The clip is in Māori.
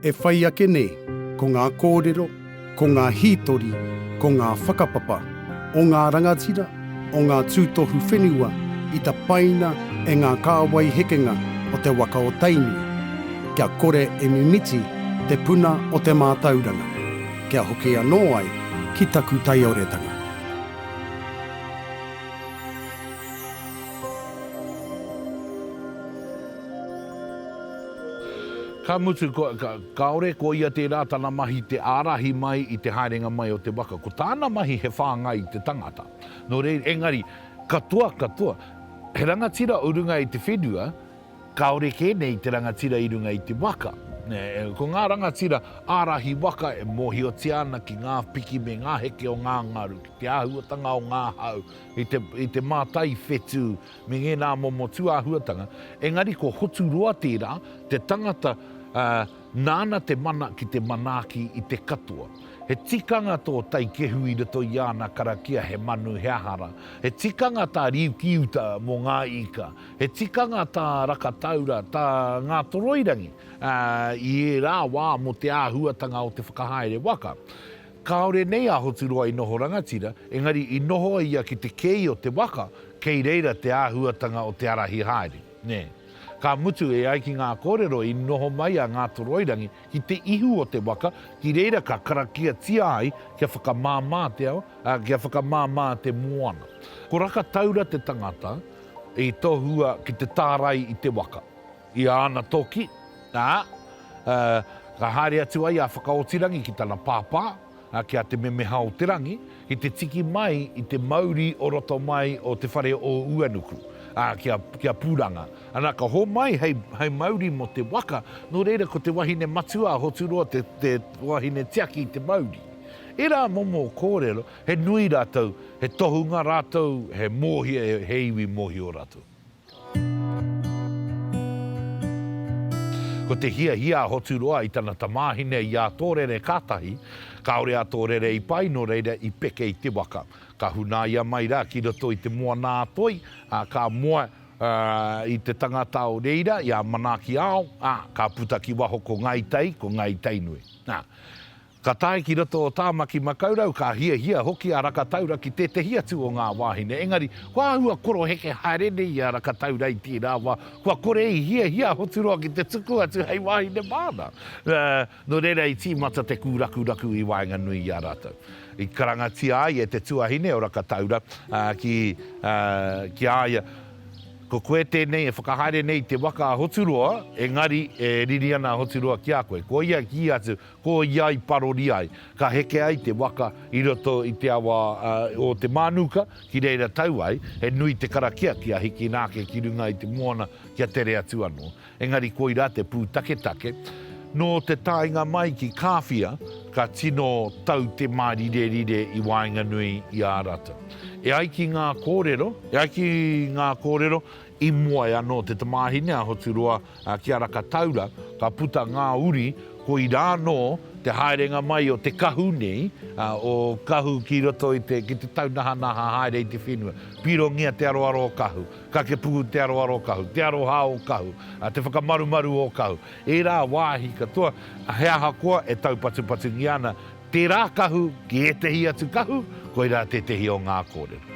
E whai ake nei, ko ngā kōrero, ko ngā hītori, ko ngā whakapapa o ngā rangatira, o ngā tūtohu whenua i tapaina e ngā kāwai hekenga o te waka o Tainui, kia kore e mimiti te puna o te mātauranga, kia hoki anō ai ki taku taioretanga. Ka mutu, kāore ko ia tērā tana mahi te ārahi mai i te haerenga mai o te waka. Ko tāna mahi he whāngai i te tangata. Nō reira, engari, katoa, katoa, he rangatira o runga i te whenua, kāore kē nei te rangatira i runga i te waka. Ko ngā rangatira ārahi waka e mōhiotia ana ki ngā piki me ngā heke o ngā ngaru, ki te āhuatanga o ngā hau, i te mātai whetū, me ngēnā momo tūāhuatanga, engari ko Hoturoa tērā, te tangata nāna te mana ki te manaaki i te katoa. He tikanga tō Taikehu i roto i āna karakia he manu, he aha rā. He tikanga tā Riukiuta mō ngā ika, he tikanga tā Rakataura, tā Ngātoroirangi i ērā wā mō te āhuatanga o te whakahaere waka. Kāore nei a Hoturoa i noho rangatira, engari i noho a ia ki te kēi o te waka, kei reira te āhuatanga o te ārahi haere, nē. Ka mutu, e ai ki ngā kōrero i noho mai a Ngātoroirangi ki te ihu o te waka, ki reira ka karakiatia ai kia whakamāmā te ao, ā, kia whakamāmā te moana. Ko Rakataura te tangata i tohua ki te tārai i te waka. I āna toki, ā, ka haere atu ai a Whakaotirangi ki tana pāpā, ā, ki a Te Memeha-o-te-rangi, ki te tiki mai i te mauri o roto mai o te whare o Uanuku, ā, ki a, ki a Pūranga. Ana, ka homai hei, hei mauri mō te waka, nō reira ko te wahine matua a Hoturoa te, te wahine tiaki i te mauri. Ērā momo kōrero, he nui rātou, he tohunga rātou, he mōhio, he iwi mōhio rātou. Ko te hiahia a Hoturoa i tana tamāhine i a Tōrere kātahi, kāore a Tōrere i pai nō reira i peke i te waka. Ka hunaia mai rā ki roto i te moana-a-toi, ā, ka moe i te tangata o reira, i a Manaaki-ao, ā, ka puta ki waho ko Ngāi Tai, ko Ngāi Tainui. Ā. Ka tae ki roto o Tāmaki Makaurau, ka hiahia hoki a Rakataura ki tētehi atu o ngā wāhine, engari kua āhua koroheke haere nei i a Rakataura i tērā wā, kua kore i hiahia a Hoturoa ki te tuku atu hei wāhine māna. Nō reira i tīmata te kūrakuraku i waenganui i a rātou. I karangatia ai e te tuahine o Rakataura ki a ia, Ko koe tēnei e whakahaere nei i te waka a Hoturoa, engari e riri ana a Hoturoa ki a koe. Koia i kī atu, Ko ia i parori ai, ka heke ai te waka i roto i te awa o Te Mānuka, ki reira tau ai, he nui te karakia kia hikina ake ki runga i te moana kia tere atu anō. Engari koirā te pūtaketake. Nō te taenga mai ki Kāwhia, ka tino tau te mārirerire i waenganui i a rātou. E ai ki ngā kōrero, e ai ki ngā kōrero, i moe anō te tamāhine a Hoturoa Ā, ki a Rakataura ka puta ngā uri, koirā anō te haerenga mai o te kahu nei, ā, o kahu ki roto i te, ki te taunahanaha haere i te whenua. Pirongia te aroaro o kahu, kakepuku te aroaro o kahu, te aroha o kahu, ā, te whakamarumaru o kahu. Ērā wāhi katoa, he ahakoa e taupatupatungia ana Tērā kahu ki ētehi atu kahu, koirā tētehi o ngā kōrero.